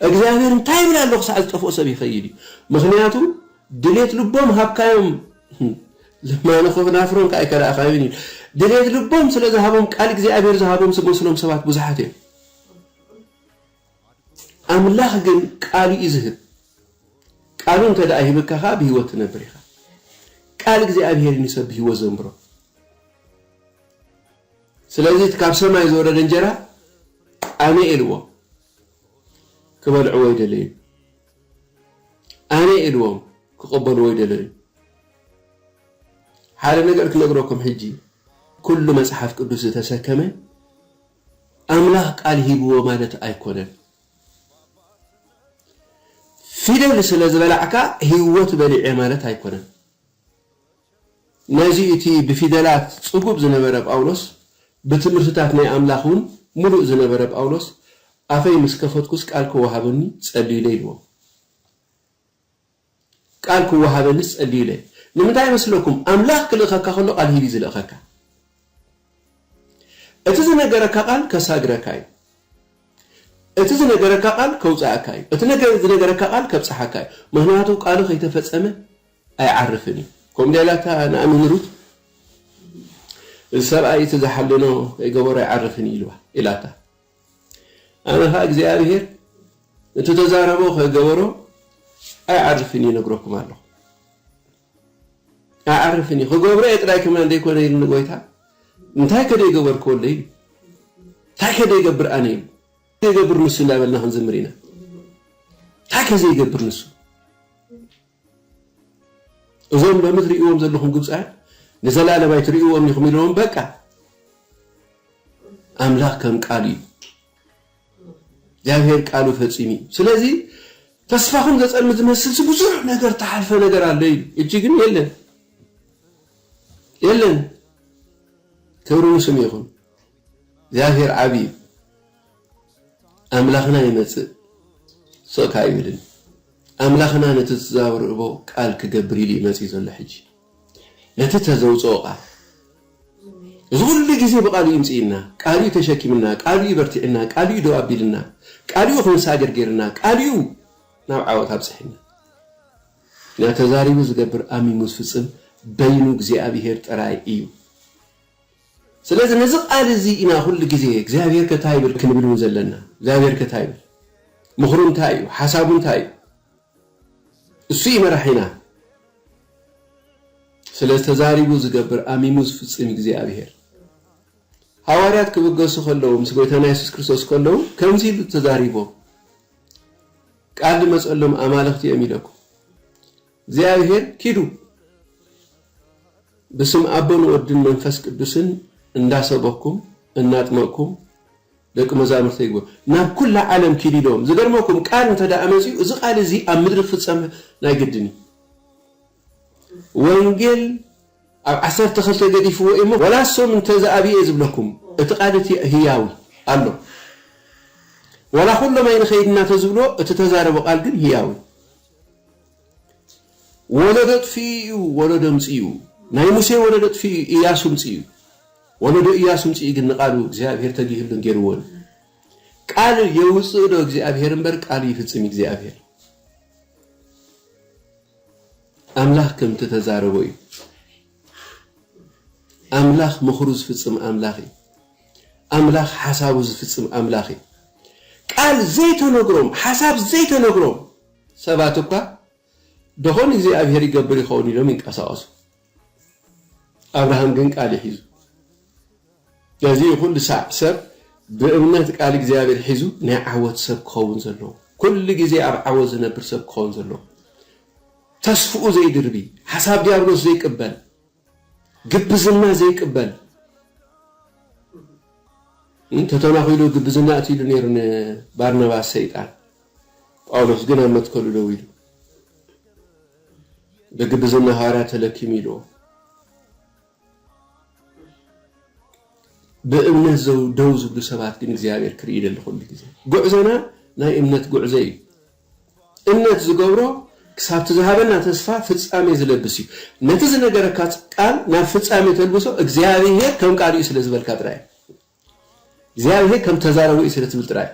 [SPEAKER 1] እግዚኣብሔር እንታይ ይብል ኣሎ ክሳዕ ዝጠፍኦ ሰብ ይኸይድ እዩ ምክንያቱ ድሌት ልቦም ሃብካዮም ለማኒ ከናፍሮም ከኣ ኣይከዳእካዮን እዩ ድሌት ልቦም ስለ ዝሃቦም ቃል እግዚኣብሔር ዝሃቦም ዝመስሎም ሰባት ብዙሓት እዮም ኣምላኽ ግን ቃሉ እዩ ዝህብ ቃሉ እንተ ደኣ ሂብካ ከኣ ብህይወት ትነብር ኢኻ ቃል እግዚኣብሔር እዩ ንሰብ ብህይወት ዘንብሮ ስለዚ እቲ ካብ ሰማይ ዝወረደ እንጀራ ኣነ ኢልዎ ክበልዕዎ ይደለዩ ኣነ ኢልዎም ክቅበልዎ ኣይደለዩን ሓደ ነገር ክነግረኩም ሕጂ ኩሉ መጽሓፍ ቅዱስ ዝተሰከመ ኣምላኽ ቃል ሂብዎ ማለት ኣይኮነን ፊደል ስለ ዝበላዕካ ሂወት በሊዐ ማለት ኣይኮነን። ነዚ እቲ ብፊደላት ጽጉብ ዝነበረ ጳውሎስ፣ ብትምህርትታት ናይ ኣምላኽ ውን ምሉእ ዝነበረ ጳውሎስ፣ ኣፈይ ምስ ከፈትኩስ ቃል ክወሃበኒ ጸልዩለይ ኢልዎ። ቃል ክወሃበኒስ ጸልዩለይ። ንምንታይ ይመስለኩም? ኣምላኽ ክልእኸካ ከሎ ቃል ሂብ እዩ ዝልእኸካ። እቲ ዝነገረካ ቃል ከሳግረካ እዩ። እቲ ዝነገረካ ቃል ከውጽኣካ እዩ። እቲ ዝነገረካ ቃል ከብጽሓካ እዩ። ምኽንያቱ ቃሉ ከይተፈጸመ ኣይዓርፍን እዩ ከምኡ ዳይላ እታ ንኣሚን ሩት እዚ ሰብኣይ እቲ ዝሓለኖ ከይገበሮ ኣይዓርፍን እዩ ኢልዋ ኢላታ ኣነ ከኣ እግዚኣብሄር እቲ ተዛረቦ ከይገበሮ ኣይዓርፍን እዩ ነግረኩም ኣለኹ ኣይዓርፍን እዩ ክገብሮ እየ ጥራይ ከማን ዘይኮነ ኢሉ ንጎይታ እንታይ ከደይ ገበርክዎ ኣሎ ኢሉ እንታይ ከደይ ገብር ኣነ ኢሉ ዘይገብር ንሱ እንዳበልና ክንዝምር ኢና እንታይ ከዘይገብር ንሱ እዞም ሎሚ ትርእይዎም ዘለኹም ግብጻውያን ንዘላለም ኣይትርእይዎምን ኢኹም ኢልዎም በቃ ኣምላኽ ከም ቃሉ እዩ እግዚኣብሔር ቃሉ ፈጺሙ እዩ ስለዚ ተስፋኹም ዘጸልም ዝመስልሲ ብዙሕ ነገር ተሓልፈ ነገር ኣሎ እዩ እጂ ግን የለን የለን ክብሪ ንስም ይኹን እግዚኣብሔር ዓብዪ እዩ ኣምላኽና ይመጽእ ሱቕ ከኣ ኣይብልን ኣምላኽና ነቲ ዝተዛብርእቦ ቃል ክገብር ኢሉ እዩ መጺኡ ዘሎ ሕጂ ነቲ ተዘውጽኦ ቃል እዚ ኩሉ ግዜ ብቃሉ እዩ ምጽኢና ቃሉ እዩ ተሸኪምና ቃሉ እዩ በርቲዕና ቃሉ እዩ ደው ኣቢልና ቃሉ እዩ ክንሳገር ጌርና ቃሉ እዩ ናብ ዓወት ኣብጽሕና እና ተዛሪቡ ዝገብር ኣሚሙ ዝፍጽም በይኑ እግዚኣብሄር ጥራይ እዩ ስለዚ ነዚ ቃል እዚ ኢና ኩሉ ግዜ እግዚኣብሄርከ ታይ ይብል ክንብል ውን ዘለና እግዚኣብሄርከ ታይ ይብል ምኽሩ እንታይ እዩ ሓሳቡ እንታይ እዩ እሱ እዩ መራሒና ስለዚ ተዛሪቡ ዝገብር ኣሚሙ ዝፍጽም እዩ እግዚኣብሄር ሃዋርያት ክብገሱ ከለዉ ምስ ጎይታና የሱስ ክርስቶስ ከለዉ ከምዚ ኢሉ ተዛሪቦም ቃል ዝመጸሎም ኣማልኽቲ እዮም ኢለኩም እግዚኣብሔር ኪዱ ብስም ኣቦን ወድን መንፈስ ቅዱስን እንዳሰበኩም እናጥመቅኩም ደቂ መዛሙርተይ ግበሩ ናብ ኩላ ዓለም ኪዱ ኢልዎም ዝገርመኩም ቃል እንተ መጺኡ እዚ ቃል እዚ ኣብ ምድሪ ክፍጸም ናይ ግድን እዩ ወንጌል ኣብ ዓሰርተ ክልተ ገዲፍዎ እዩ እሞ ዋላ ሶም እንተ ዝኣብዩ እየ ዝብለኩም እቲ ቃል እቲ ህያው እዩ ኣሎ ዋላ ኩሎም ኣይንኸይድ እናተዝብልዎ እቲ ተዛረቦ ቃል ግን ህያው እዩ ወለዶ ኣጥፊኡ እዩ ወለዶ ኣምጺኡ። ናይ ሙሴ ወለዶ ኣጥፊኡ እዩ እያሱ ኣምጺኡ። ወለዶ እያሱ ኣምጺኡ ግን ንቓሉ እግዚኣብሄር ተጊህሉን ጌርዎን። ቃል የውጽእ ዶ እግዚኣብሄር እምበር ቃሉ ይፍጽም እግዚኣብሄር። ኣምላኽ ከምቲ ተዛረቦ እዩ። ኣምላኽ ምኽሩ ዝፍጽም ኣምላኽ እዩ። ኣምላኽ ሓሳቡ ዝፍጽም ኣምላኽ እዩ። ቃል ዘይተነግሮም፣ ሓሳብ ዘይተነግሮም ሰባት እኳ ደኾን እግዚኣብሄር ይገብር ይኸውን ኢሎም ይንቀሳቐሱ። ኣብርሃም ግን ቃል እዩ ሒዙ። ነዚ እዩ ኩሉ ሳዕ ሰብ ብእምነት ቃል እግዚኣብሄር ሒዙ ናይ ዓወት ሰብ ክኸውን ዘለዎ። ኩሉ ግዜ ኣብ ዓወት ዝነብር ሰብ ክኸውን ዘለዎ። ተስፍኡ ዘይድርቢ፣ ሓሳብ ዲያብሎስ ዘይቅበል፣ ግብዝና ዘይቅበል፣ ን ተተናኺሉ ግብዝና እቲ ኢሉ ነይሩ ን ባርናባስ ሰይጣን፣ ጳውሎስ ግን ኣብ መትከሉ ደው ኢሉ፣ ብግብዝና ሃዋርያት ተለኪሙ ኢልዎ። ብእምነት ዘው ደው ዝብሉ ሰባት ግን እግዚኣብሔር ክርኢ ይደሊ ኩሉ ግዜ። ጉዕዞና ናይ እምነት ጉዕዞ እዩ። እምነት ዝገብሮ ክሳብቲ ዝሃበና ተስፋ ፍጻሜ ዝለብስ እዩ። ነቲ ዝነገረካ ቃል ናብ ፍጻሜ ተልብሶ እግዚኣብሔር ከም ቃሉ እዩ ስለ ዝበልካ ጥራይ እዩ። እግዚኣብሔር ከም ተዛረቡ እዩ ስለ ትብል ጥራይ።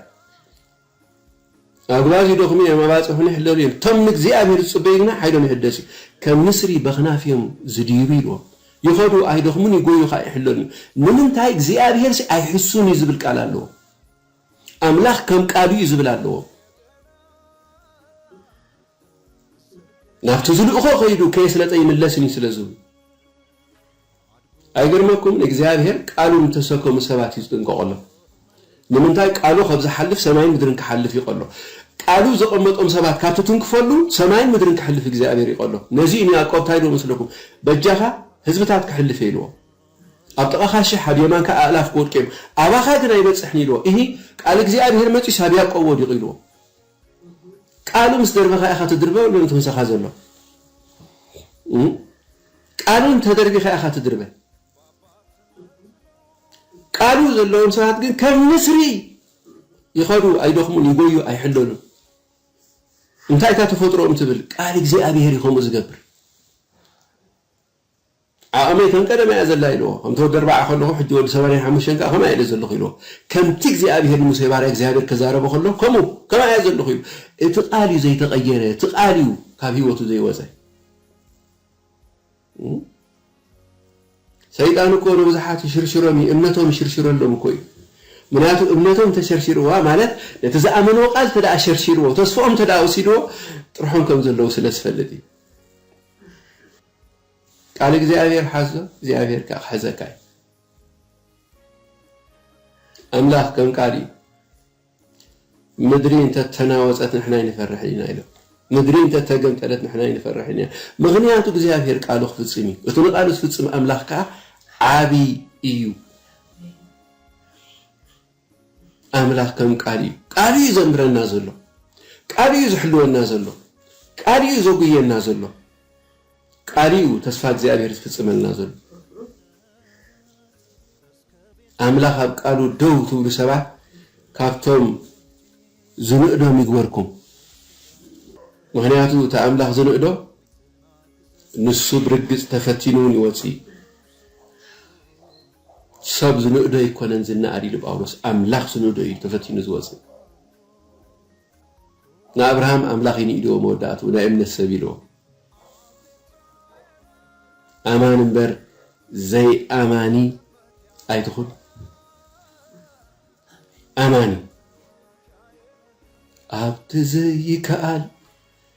[SPEAKER 1] ኣጕባዝ ይደኽሙ እዮም፣ ኣባጽሑን ይሕለሉ እዮም፣ እቶም ንእግዚኣብሔር ዝጽበዩ ግና ሓይሎም ይሕደስ እዩ፣ ከም ንስሪ በኽናፍ እዮም ዝድይቡ ኢልዎም። ይኸዱ ኣይደኽሙን፣ ይጎዩ ኸኣ ኣይሕለሉን እዮም። ንምንታይ? እግዚኣብሔርሲ ኣይሕሱን እዩ ዝብል ቃል ኣለዎም። ኣምላኽ ከም ቃሉ እዩ ዝብል ኣለዎም። ናብቲ ዝልእኾ ከይዱ ከየስለጠ ይምለስን እዩ ስለ ዝብሉ። ኣይገርመኩምን እግዚኣብሄር ቃሉ ንተሰከሙ ሰባት እዩ ዝጥንቀቀሎም ንምንታይ ቃሉ ከብ ዝሓልፍ ሰማይን ምድርን ክሓልፍ ይቀሎ ቃሉ ዘቀመጦም ሰባት ካብ ትትንክፈሉ ሰማይን ምድርን ክሕልፍ እግዚኣብሄር ይቀሎ ነዚ እዩ ንያቆብ ታይ ድቦ መስለኩም በጃካ ህዝብታት ክሕልፍ እየ ኢልዎ ኣብ ጥቃካ ሽሕ ኣብ የማንካ ኣእላፍ ክወድቁ እዮም ኣባካ ግን ኣይበፅሕን ኢልዎ እሂ ቃል እግዚኣብሄር መፂኡስ ኣብ ያቆብ ወዲቁ ኢልዎ ቃሉ ምስ ደርበካ ኢካ ትድርበ ወላ ነቲ ምሳካ ዘሎ። ቃሉን ተደርቢኻ ኢኻ ትድርበ ቃሉ ዘለዎም ሰባት ግን ከም ንስሪ ይኸዱ ኣይደኽሙን ይጎዩ ኣይሕለሉን እንታይ እታ ተፈጥሮኦም ትብል ቃል እግዚኣብሔር ይኸምኡ ዝገብር ዓቕመይ ከም ቀደማ እያ ዘላ ኢልዎ ከምቲ ወዲ ኣርባዓ ከለኹ ሕጂ ወዲ ሰማንያን ሓሙሽተን ከዓ ከማይ እለ ዘለኹ ኢልዎ ከምቲ እግዚኣብሄር ንሙሴ ባርያ እግዚኣብሄር ክዛረቦ ከሎ ከምኡ ከማይ እያ ዘለኹ ኢሉ እቲ ቃል እዩ ዘይተቐየረ እቲ ቃል እዩ ካብ ህይወቱ ዘይወፀ ሰይጣን እኮ ንብዙሓት ይሽርሽሮም እዩ እምነቶም ይሽርሽረሎም እኮ እዩ ምክንያቱ እምነቶም እንተሸርሺርዋ ማለት ነቲ ዝኣመንዎ ቃል እንተ ሸርሺርዎ ተስፍኦም እንተ ወሲድዎ ጥርሖም ከም ዘለዉ ስለ ዝፈልጥ እዩ ቃል እግዚኣብሔር ሓዞ እግዚኣብሔር ከዓ ክሕዘካ እዩ ኣምላኽ ከም ቃል እዩ ምድሪ እንተ ተናወጸት ንሕና ኣይንፈርሕን ኢና ኢሎም። ምድሪ እንተ ተገምጠለት ንሕና ኣይንፈርሕን ኢና። ምኽንያቱ እግዚኣብሄር ቃሉ ክፍጽም እዩ። እቲ ንቓሉ ዝፍጽም ኣምላኽ ከኣ ዓቢ እዩ። ኣምላኽ ከም ቃል እዩ። ቃል እዩ ዘምህረና ዘሎ። ቃል እዩ ዝሕልወና ዘሎ። ቃል እዩ ዘጉየና ዘሎ። ቃል እዩ ተስፋ እግዚኣብሄር ዝፍጽመልና ዘሎ። ኣምላኽ ኣብ ቃሉ ደው ትብሉ ሰባት ካብቶም ዝንእዶም ይግበርኩም ምኽንያቱ እቲ ኣምላኽ ዝንእዶ ንሱ ብርግጽ ተፈቲኑ እውን ይወጽእ እዩ ሰብ ዝንእዶ ኣይኮነን ዝነኣድ ኢሉ ጳውሎስ ኣምላኽ ዝንእዶ እዩ ተፈቲኑ ዝወጽእ ንኣብርሃም ኣምላኽ ይንኢድዎ መወዳእትኡ ናይ እምነት ሰብ ኢልዎ። ኣማኒ እምበር ዘይኣማኒ ኣይትኹን። ኣማኒ ኣብቲ ዘይከኣል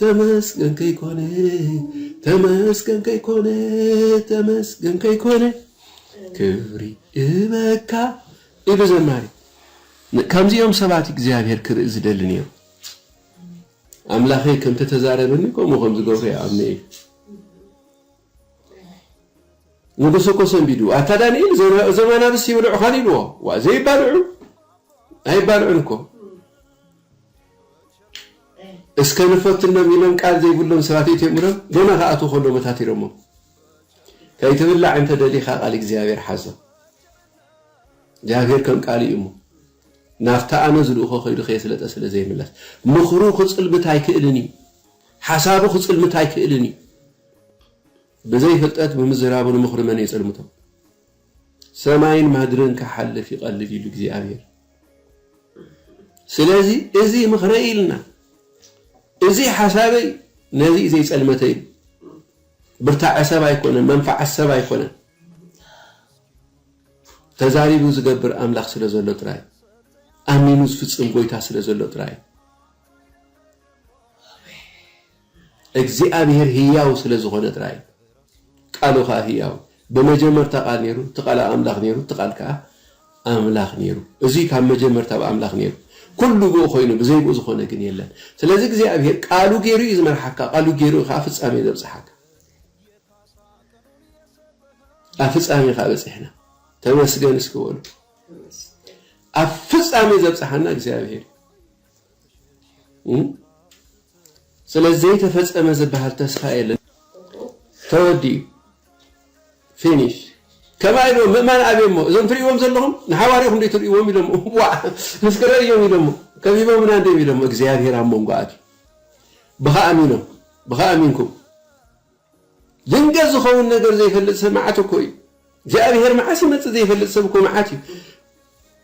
[SPEAKER 1] ተመስገን ከይኮነ ተመስገን ከይኮነ ተመስገን ከይኮነ ክብሪ እበካ ኢሉ ዘማሪ ከምዚኦም ሰባት እግዚኣብሔር ክርኢ ዝደሊ ነይሩ ኣምላኸይ ከምተተዛረበኒ ከምኡ ከም ዝገብሩ ይኣምነ እዩ ንጉስ እኮ ሰንቢዱ ኣታ ዳኒኤል እዞም ኣናብስ ይብልዑኻን ኢልዎ ዋ ዘይባልዑ ኣይባልዑን እኮ እስከ ንፈትኖም ኢሎም ቃል ዘይብሎም ሰባት እትዮም ኢሎም ገና ከኣትዉ ከሎ መታቲሮሞ ከይትብላዕ እንተ ደሊኻ ቃል እግዚኣብሔር ሓዞ እግዚኣብሔር ከም ቃል እዩ እሞ ናብታ ኣነ ዝልእኾ ከይዱ ከየስለጠ ስለ ዘይምለስ ምኽሩ ክፅልምት ኣይክእልን እዩ ሓሳቡ ክፅልምት ኣይክእልን እዩ ብዘይ ፍልጠት ብምዝራቡ ንምኽሩ መን የጸልምቶ። ሰማይን ማድርን ክሓልፍ ይቐልል ኢሉ እግዚኣብሔር። ስለዚ እዚ ምኽረይ ኢልና እዚ ሓሳበይ ነዚ እዩ ዘይጸልመተ እዩ። ብርታዐ ሰብ ኣይኮነን፣ መንፋዓት ሰብ ኣይኮነን። ተዛሪቡ ዝገብር ኣምላኽ ስለ ዘሎ ጥራይ ኣሚኑ ዝፍጽም ጎይታ ስለ ዘሎ ጥራይ እግዚኣብሄር ህያው ስለ ዝኾነ ጥራይ እዩ። ቃሉ ከኣ ህያው እዩ። ብመጀመርታ ቃል ነይሩ፣ እቲ ቃል ኣብ ኣምላኽ ነይሩ፣ እቲ ቃል ከኣ ኣምላኽ ነይሩ። እዙይ ካብ መጀመርታ ኣብ ኣምላኽ ነይሩ። ኩሉ ብኡ ኮይኑ፣ ብዘይ ብኡ ዝኾነ ግን የለን። ስለዚ እግዚኣብሄር ቃሉ ገይሩ እዩ ዝመርሓካ፣ ቃሉ ገይሩ እዩ ከኣ ፍጻሜ ዘብጽሓካ። ኣብ ፍጻሜ ከኣ በጺሕና። ተመስገን እስኪ በሉ። ኣብ ፍጻሜ ዘብጽሓና እግዚኣብሄር እዩ። ስለ ዘይተፈጸመ ዝበሃል ተስፋ የለን ተወዲኡ ፊኒሽ ከማይ ዶ ምእማን ኣብየሞ እዞም ትርእይዎም ዘለኹም ንሓዋርያኹም ዶ ትርእይዎም ኢሎሞ ዋዕ እስኪ ረእዮም ኢሎሞ ከቢቦምና እንዲዮም ኢሎሞ እግዚኣብሔር ኣብ መንጎ ኣትዩ ብኻ ኣሚኖም ብኻ ኣሚንኩም ድንገት ዝኸውን ነገር ዘይፈልጥ ሰብ መዓት እኮ እዩ። እግዚኣብሔር መዓስ ይመጽእ ዘይፈልጥ ሰብ እኮ መዓት እዩ።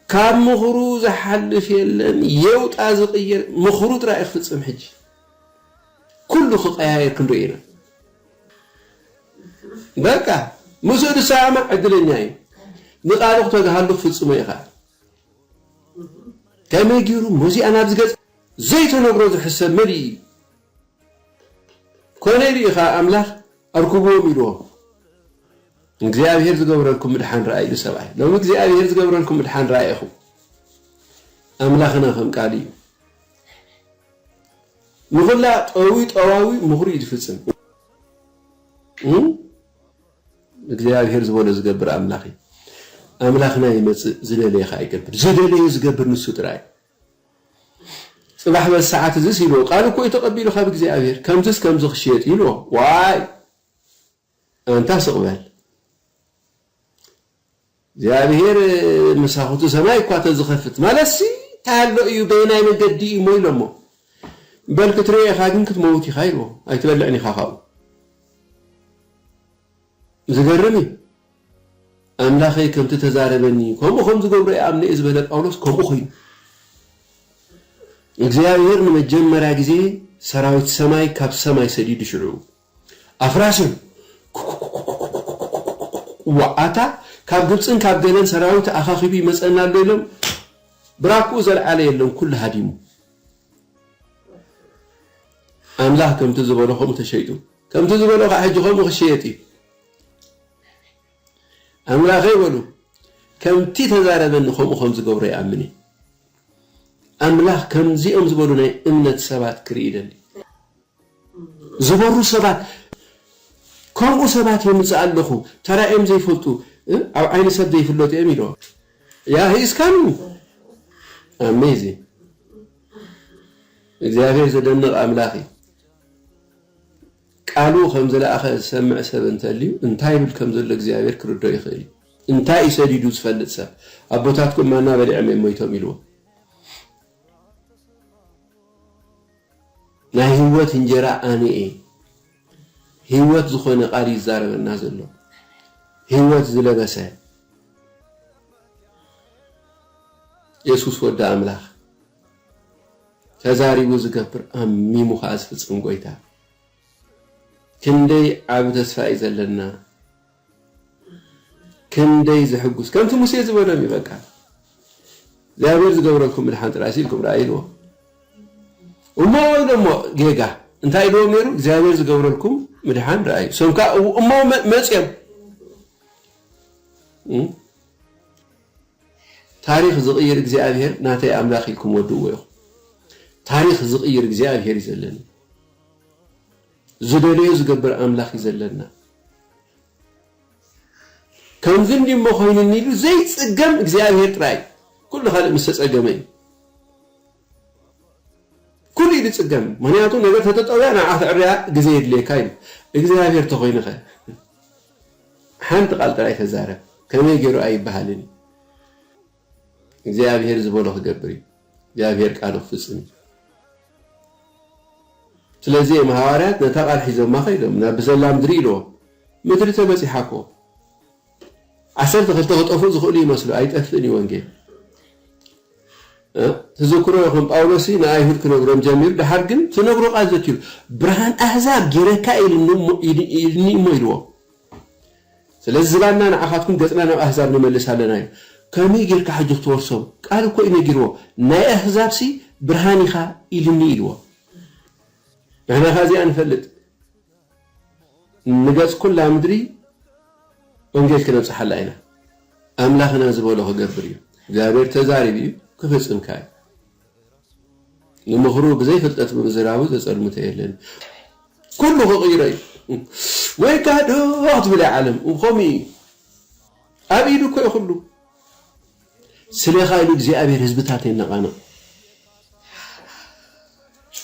[SPEAKER 1] ካብ ምኽሩ ዝሓልፍ የለን የውጣ ዝቕየር ምኽሩ ጥራይ ክፍጽም ሕጂ ኩሉ ክቀያየር ክንርኢ ኢና። በቃ ምስኡ ዝሰማማዕ ዕድለኛ እዩ። ንቃሉ ክተግሃሉ ክፍጽሞ ኢኻ። ከመይ ጊሩ ሞዚኣ ናብ ዝገጽ ዘይተነግሮ ዝሕሰብ መሊኡ እዩ። ኮነ ኢሉ እዩ ኸኣ ኣምላኽ ኣርኩብዎም ኢልዎም። ንእግዚኣብሄር ዝገብረልኩም ምድሓን ርኣዩ ኢሉ ሰብኣይ። ሎሚ እግዚኣብሄር ዝገብረልኩም ምድሓን ርኣዩ ኢኹም። ኣምላኽና ከም ቃሉ እዩ። ንኹላ ጠዊ ጠዋዊ ምኽሩ እዩ ዝፍጽም። እግዚኣብሄር ዝበሎ ዝገብር ኣምላኽ እዩ። ኣምላኽና ይመጽእ ዝደለየ ኸኣ ይገብር። ዝደለዮ ዝገብር ንሱ ጥራይ እዩ። ጽባሕ በዚ ሰዓት እዝስ ኢልዎ ቃል እኮ እዩ ተቀቢሉ ካብ እግዚኣብሔር ከምዝስ ከምዚ ክሽየጥ ኢልዎ ዋይ ኣንታ ስቅ በል እግዚኣብሔር መሳኹቲ ሰማይ እኳ ተዝኸፍት ማለትሲ እንታይ ኣሎ እዩ በየናይ መንገዲ እዩ እሞ ኢሎሞ በል ክትሪኦ ኢኻ ግን ክትመውት ኢኻ ኢልዎ ኣይትበልዕን ኢኻ ካብኡ ዝገርም እዩ ኣምላኸይ ከምቲ ተዛረበኒ ከምኡ ከም ዝገብሮ ይኣምን'የ ዝበለ ጳውሎስ ከምኡ ኮይኑ። እግዚኣብሄር ንመጀመርያ ግዜ ሰራዊት ሰማይ ካብ ሰማይ ሰዲዱ ሽዑ ኣፍራስ እዮም ዋዓታ ካብ ግብፅን ካብ ገለን ሰራዊት ኣኻኺቡ ይመፀና ኣሎ ኢሎም ብራኩኡ ዘልዓለ የለን ኩሉ ሃዲሙ ኣምላኽ ከምቲ ዝበሎ ከምኡ ተሸይጡ ከምቲ ዝበሎ ከኣ ሕጂ ከምኡ ክሽየጥ እዩ። ኣምላኸይ በሉ ከምቲ ተዛረበኒ ከምኡ ከም ዝገብሮ ይኣምን እየ። ኣምላኽ ከምዚኦም ዝበሉ ናይ እምነት ሰባት ክርኢ ይደሊ። ዝበሩ ሰባት ከምኡ ሰባት የምጽእ ኣለኹ ተራእዮም ዘይፈልጡ ኣብ ዓይኒ ሰብ ዘይፍለጡ እዮም ኢሎ ያ ሂስካኑ ኣሜዚንግ እግዚኣብሔር ዘደንቕ ኣምላኽ እዩ። ቃሉ ኸም ዝለኣኸ ዝሰምዕ ሰብ እንተልዩ፣ እንታይ ይብል ከም ዘሎ እግዚኣብሄር ክርድኦ ይኽእል እዩ። እንታይ እዩ ሰዲዱ ዝፈልጥ ሰብ፣ ኣቦታትኩም ማና በሊዖም እዮም ሞይቶም ኢልዎ። ናይ ህይወት እንጀራ ኣነ እየ። ህይወት ዝኾነ ቃል እዩ ዝዛረበና ዘሎ። ህይወት ዝለበሰ የሱስ ወዲ ኣምላኽ። ተዛሪቡ ዝገብር ኣሚሙ ከኣ ዝፍጽም ጎይታ ክንደይ ዓቢ ተስፋ እዩ ዘለና ክንደይ ዘሕጉስ ከምቲ ሙሴ ዝበሎም እዩ በቃ እግዚኣብሔር ዝገብረልኩም ምድሓን ጥራይሲ ኢልኩም ረኣ ኢልዎ እሞ ኢሎሞ ጌጋ እንታይ ኢልዎም ነይሩ እግዚኣብሔር ዝገብረልኩም ምድሓን ረኣዩ ሰምካ እሞ መፅኦም ታሪኽ ዝቕይር እግዚኣብሄር ናተይ ኣምላኽ ኢልኩም ወድእዎ ኢኹም። ታሪኽ ዝቕይር እግዚኣብሄር እዩ ዘለና። ዝደለዮ ዝገብር ኣምላኽ እዩ ዘለና። ከምዚ እንዲ እሞ ኮይኑኒ ኢሉ ዘይጽገም እግዚኣብሄር ጥራይ ኩሉ ካልእ ምስ ተጸገመ እዩ። ኩሉ እዩ ዝጽገም ምክንያቱ ነገር ተተጠውያ ንዓኻ ተዕርያ ግዜ የድልየካ እዩ እግዚኣብሄር ተኾይኑኸ ሓንቲ ቃል ጥራይ ተዛረብ ከመይ ጌሩ ኣይበሃልን እዩ እግዚኣብሄር ዝበሎ ክገብር እዩ እግዚኣብሄር ቃሉ ክፍጽም እዩ ስለዚ እዮም ሃዋርያት ነታ ቃል ሒዞማ ከይዶም ናብ ብዘላ ምድሪ ኢልዎ ምድሪ ተበጺሓ እኮ ዓሰርተ ክልተ ክጠፍኡ ዝኽእሉ ይመስሉ ኣይጠፍእን እዩ ወንጌል ትዝክሮ ከም ጳውሎስ ንኣይሁድ ክነግሮም ጀሚሩ ድሓር ግን ትነግሮ ቃል ዘትሉ ብርሃን ኣህዛብ ጌረካ ኢልኒ እሞ ኢልዎ ስለዚ ዝባንና ንዓኻትኩም ገጽና ናብ ኣህዛብ ንመልስ ኣለና እዩ ከመይ ጌርካ ሕጂ ክትወርሶም ቃል እኮ እዩ ነጊርዎ ናይ ኣህዛብ ሲ ብርሃን ኢኻ ኢልኒ ኢልዎ ንሕና ኸ እዚኣ ንፈልጥ ንገጽ ኩላ ምድሪ ወንጌል ክነብጽሓላ ኢና ኣምላኽና ዝበሎ ክገብር እዩ እግዚኣብሔር ተዛሪቡ እዩ ክፍጽም ከኣ እዩ ንምኽሩ ብዘይ ፍልጠት ብምዝራቡ ዘጸልምቶ የለን ኩሉ ክቕይሮ እዩ ወይ ካዶ ክትብል እያ ዓለም ከምኡ እዩ ኣብ ኢዱ እኮ እዩ ኩሉ ስሌኻ ኢሉ እግዚኣብሄር ህዝብታት የነቓንቕ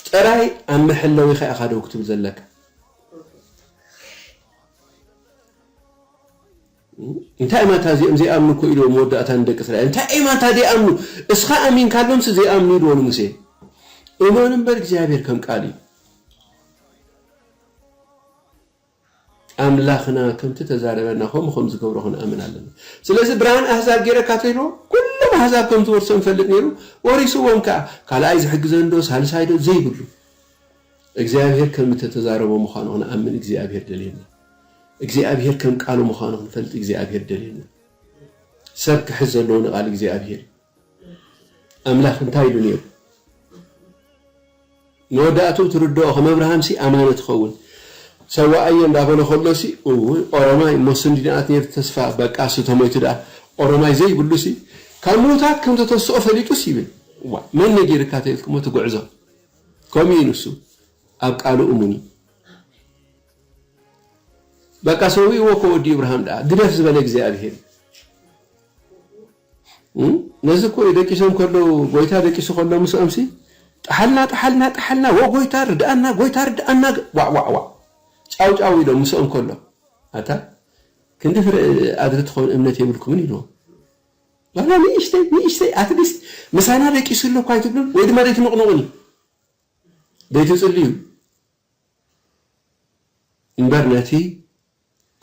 [SPEAKER 1] ጥራይ ኣብ መሐለዊኻ ኢኻ ደው ክትብል ዘለካ እንታይ እማ እታ እዚኦም ዘይኣምኑ እኮ ኢልዎ መወዳእታ ንደቂ እስራኤል እንታይ እማ እታ ዘይኣምኑ እስኻ ኣሚንካሎምሲ ዘይኣምኑ ኢልዎ ንሙሴ እመኑ እምበር እግዚኣብሔር ከም ቃል እዩ ኣምላኽና ከምቲ እተዛረበና ከምኡ ኸም ዚገብሮ ኽንኣምን ኣሎና። ስለዚ፣ ብርሃን ኣህዛብ ገይረ ካተይዎ፣ ኵሎም ኣህዛብ ከም ዚወርሶም ይፈልጥ ነይሩ፣ ወሪስዎም ከኣ። ካልኣይ ዚሕግዘኒዶ ሳልሳይዶ ዘይብሉ፣ እግዚኣብሄር ከም እተተዛረቦ ምዃኑ ኽንኣምን እግዚኣብሄር ደልየና። እግዚኣብሄር ከም ቃሉ ምዃኑ ኽንፈልጥ እግዚኣብሄር ደልየና። ሰብ ኪሕዝ ዘለዎ ንቓል እግዚኣብሄር እዩ። ኣምላኽ እንታይ ኢሉ ነይሩ? መወዳእትኡ ትርድኦ፣ ከም ኣብርሃምሲ ኣማኒ ትኸውን። ሰዋኣዮ እንዳበሎ ከሎሲ እውይ ኦሮማይ እሞ ስንዲ ናት ነይሩ ተስፋ በቃስ እተሞይቱ ድኣ ኦሮማይ ዘይብሉሲ ካብ ምውታት ከም ተተስኦ ፈሊጡስ ይብል እዋይ መን ነጊርካ ተኢልክሞ እቲ ጉዕዞ ከምኡ እዩ ንሱ ኣብ ቃሉ እሙን እዩ በቃ ሰዊእዎ እኮ ወዲ እብርሃም ድኣ ግደፍ ዝበለ እግዚኣብሄር እዩ ነዚ እኮ እዩ ደቂሶም ከለው ጎይታ ደቂሱ ከሎ ምስኦምሲ ጠሓልና ጠሓልና ጠሓልና ዎው ጎይታ ርድኣና ጎይታ ርድኣና ዋዕዋዕዋዕ ጫውጫው ኢሎም ምስኦም ከሎ ኣታ ክንዲ ፍረ ኣድሪ ትኾን እምነት የብልኩምን ኢልዎም ዋላ ንእሽተይ ንእሽተይ ኣትሊስት ምሳና ደቂሱ ኣሎ እኳ ኣይትብሉን ወይ ድማ ደይትንቕንቑን እዩ ደይትጽልዩ እምበር ነቲ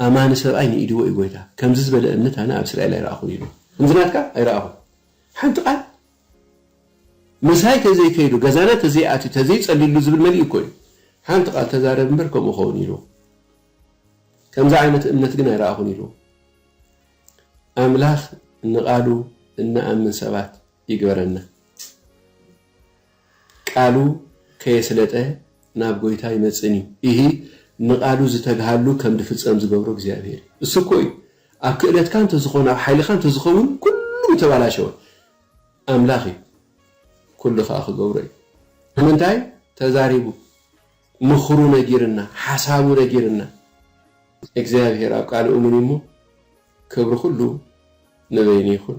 [SPEAKER 1] ኣማኒ ሰብኣይ ንኢድዎ እዩ ጎይታ ከምዚ ዝበለ እምነት ኣነ ኣብ እስራኤል ኣይረኣኹን እዩ ኢልዋ ከምዚ ናትካ ኣይረኣኹን ሓንቲ ቃል ምሳይ ተዘይ ከይዱ ገዛና ተዘይ ኣትዩ ተዘይ ጸሊሉ ዝብል መሊኡ እኮ እዩ ሓንቲ ቃል ተዛረብ እምበር ከምኡ ኸውን ኢልዎ ከምዚ ዓይነት እምነት ግን ኣይረኣኹን ኢልዎ ኣምላኽ ንቃሉ እንኣምን ሰባት ይግበረና ቃሉ ከየስለጠ ናብ ጎይታ ኣይመጽእን እዩ እሂ ንቃሉ ዝተግሃሉ ከም ድፍጸም ዝገብሮ እግዚኣብሔር እዩ እሱ እኮ እዩ ኣብ ክእለትካ እንተዝኮን ኣብ ሓይልካ እንተዝከውን ኩሉ ምተባላሸወ ኣምላክ እዩ ኩሉ ከኣ ክገብሮ እዩ ንምንታይ ተዛሪቡ ምክሩ ነጊርና ሓሳቡ ነጊርና እግዚኣብሔር ኣብ ቃሉ እሙን እዩ እሞ ክብሪ ኩሉ ንበይኑ ይኩን